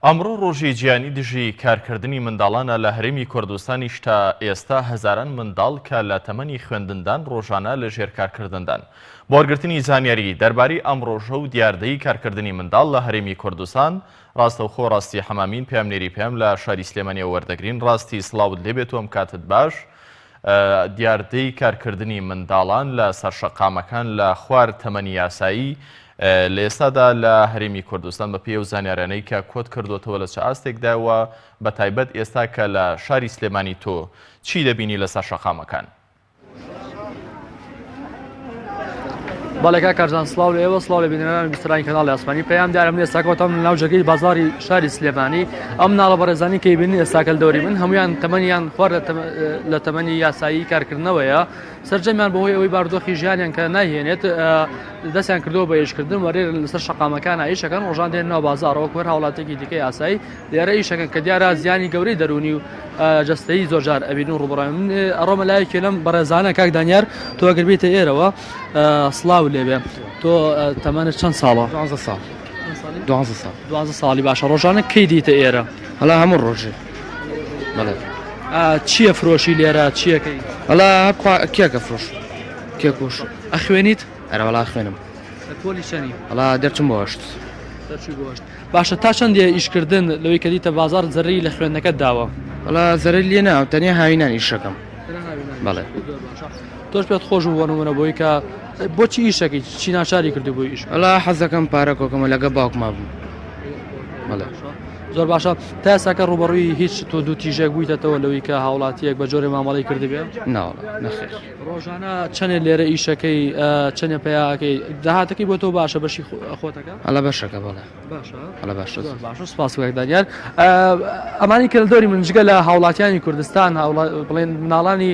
ئەمڕۆ ڕۆژی جیهانی دژی کارکردنی منداڵانە لە هەرێمی کوردستانیش تا ئێستا هەزاران منداڵ کە لە تەمەنی خوێندندان ڕۆژانە لە ژێر کارکردندان بۆ وەرگرتنی زانیاری دەربارەی ئەم ڕۆژە و دیاردەی کارکردنی منداڵ لە هەرێمی کوردستان ڕاستەوخۆ ڕاستی حەمامین پامنێری پێم لە شاری سلێمانیە وەردەگرین ڕاستی سلااوت لێبێت و ئەم کاتت باش دیاردەی کارکردنی منداڵان لە سەرشەقامەکان لە خوار تەمەنی یاسایی لە ئێستادا لە هەرێمی کوردستان بەپێی ئەو زانیاریانەی کە کۆت کردۆتەوە لە چ ئاستێکدایە و بە تایبەت ئێستا کە لە شاری سلێمانی تۆ چی دەبینی لەسەر شەقامەکان؟ بەڵێکا کارزان سلااو لە ئێوە سلااو لە بینەران بیسترانی کەناڵ ئاسمانی پێیان دارم لێ ساکۆتەم ناو جەگەی بازاری شاری سلێمانی ئەم ناڵە بەڕێزانی کەی بینی ئێستاکەل دەوری من هەمویان تەمەنیان خوارد لە تەمەنی یاسایی کارکردنەوەیە سەرجەمیان بەهۆی ئەوەی باردۆخی ژیانیان کە نایهێنێت دەستیان کردەوە بە ئیشکردن وەرێرن لەسەر شەقامەکان ئایشەکەن ڕۆژان دێن ناو بازارەوە کوەر هاوڵاتێکی دیکەی ئاسایی لێرە ئیشەکەن کە دیارە زیانی گەورەی دەرونی و جستەی زۆرجار ئەبین و ڕوبڕێن من ئەڕۆمە لایەکی لەم بەڕێزانە کاک دانیار تۆ ئەگربیتە ئێرەوە سلااو لێبێ تۆ تەمانە چەند ساڵە ساڵ دوازە ساڵ دوازە ساڵی باشە ڕۆژانە کەی دیتە ئێرە هەڵا هەموو ڕۆژێ بەڵێ چییە فرۆشی لێرە چیەکەی ئەلا کێکە فرۆش کێکوش ئەخوێنیت ئەرەوەڵا خوێنم ئەڵا دەچم بۆشت باشە تا چەندێ ئیشکردن لەوەی کە دیتە بازار زەری لە خوێندنەکە داوە ئەڵا زەری لێ ناو تەنیا هاوینان ئیشەکەم بەڵێ تۆش پێت خۆش بوو بۆنمونە بۆی کە بۆچی ئیشەکەی چی ناچاری کردو بۆ ئیش ئەلا حەزەکەم پارە کۆکەمە لەگە باوکما بوو بەڵێ زۆر باشە، تا ئێستاکە ڕووبەڕووی هیچ توندوتیژێک بوویتەتەوە لەوەی کە هاوڵاتییەک بە جۆرێ مامەڵەی کردبێ؟ ناوەڵا نەخێر. ڕۆژانە چەنێ لێرە ئیشەکەی چەنێ پەیاکەی داهاتەکەی بۆ تۆ باشە بەشی خۆتەکە؟ هەڵە بەشەکە بەڵێ باشە هەڵە باشە زۆر باشە سپاس کاک دانیال ئەمانی کردەوری من جگە لە هاوڵاتیانی کوردستان بڵێن مناڵانی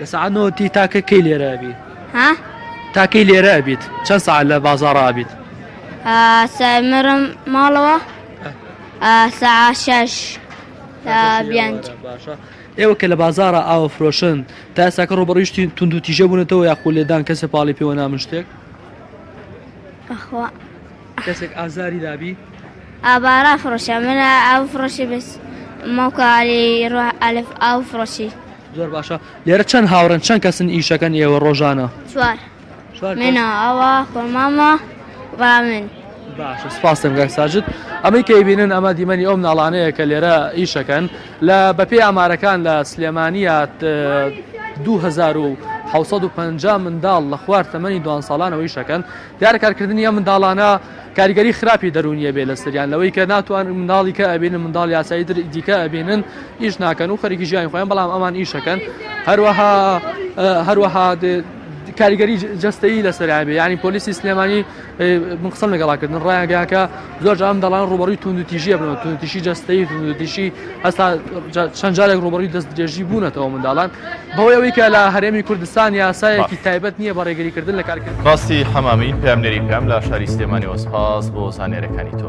لە سەعات نۆ تی تاکە کەی لێرە ئەبی؟ ها؟ تاکەی لێرە ئەبیت چەند سەعات لە بازاڕا ئەبیت؟ سەمرم ماڵەوە سەعات شەش بیانج باشە ئێوە کە لە بازارە ئاوە فرۆشن تا ئێساکە ڕۆبڕیشتی تونند و تیژە بوونەتەوە یاخۆ لێدان کەسە پاڵی پێوە نامن شتێک بەخوا کەسێک ئازاری دابی. ئا با ڕا فڕۆشە من ئا ئاو فڕۆشی بس مە کە ئالی ڕا ئالف ئاو فڕۆشی. زۆر باشە لێرە چەند هاوڕێن چەند کەسن ئیشەکەن ئێوە ڕۆژانە؟ چوار چوار کەس. منە ئەوە خۆ مامە ڕا من. باشە سپاستم گەک ساجد ئەمەی کەی بینن ئەمە دیمەنی ئەو مناڵانەیە کە لێرە ئیشەکەن لە بەپێی ئامارەکان لە سلێمانیات 2750 منداڵ لە خوار تەمەنی دوان ساڵانەوە ئیشەکەن دیارە کارکردنی ئەم منداڵانە کاریگەری خراپی دەروونی ئەبێت لەسەریان لەوەی کە ناتوانن منداڵی کە ئەبینن منداڵی ئاسایی تر دیکە ئەبینن ئیش ناکەن و خەریکی ژیانی خۆیان بەڵام ئەمان ئیشەکەن هەروەها هەروەها کاریگەری جستەیی لەسەریان بێ ینی پۆلیسی سلێمانی من قسەم لەگەڵاکردن ڕایانگەیانکە زۆر جار منداڵان ڕووبەڕووی توندوتیژیە بنەوە توندتیشی جستەی توندتیشی هەستا چەند جارێک ڕووبەڕووی دەست درێژی بوونەتەوە منداڵان بەوەی ئەوەی کە لە هەرێمی کوردستان یاسایەکی تایبەت نییە بە ڕێگەریکردن لە کارکرد باستی حەمامی پامنێری پام لە شاری سلێمانی وەسپاس بۆ زانێرەکانی تۆ.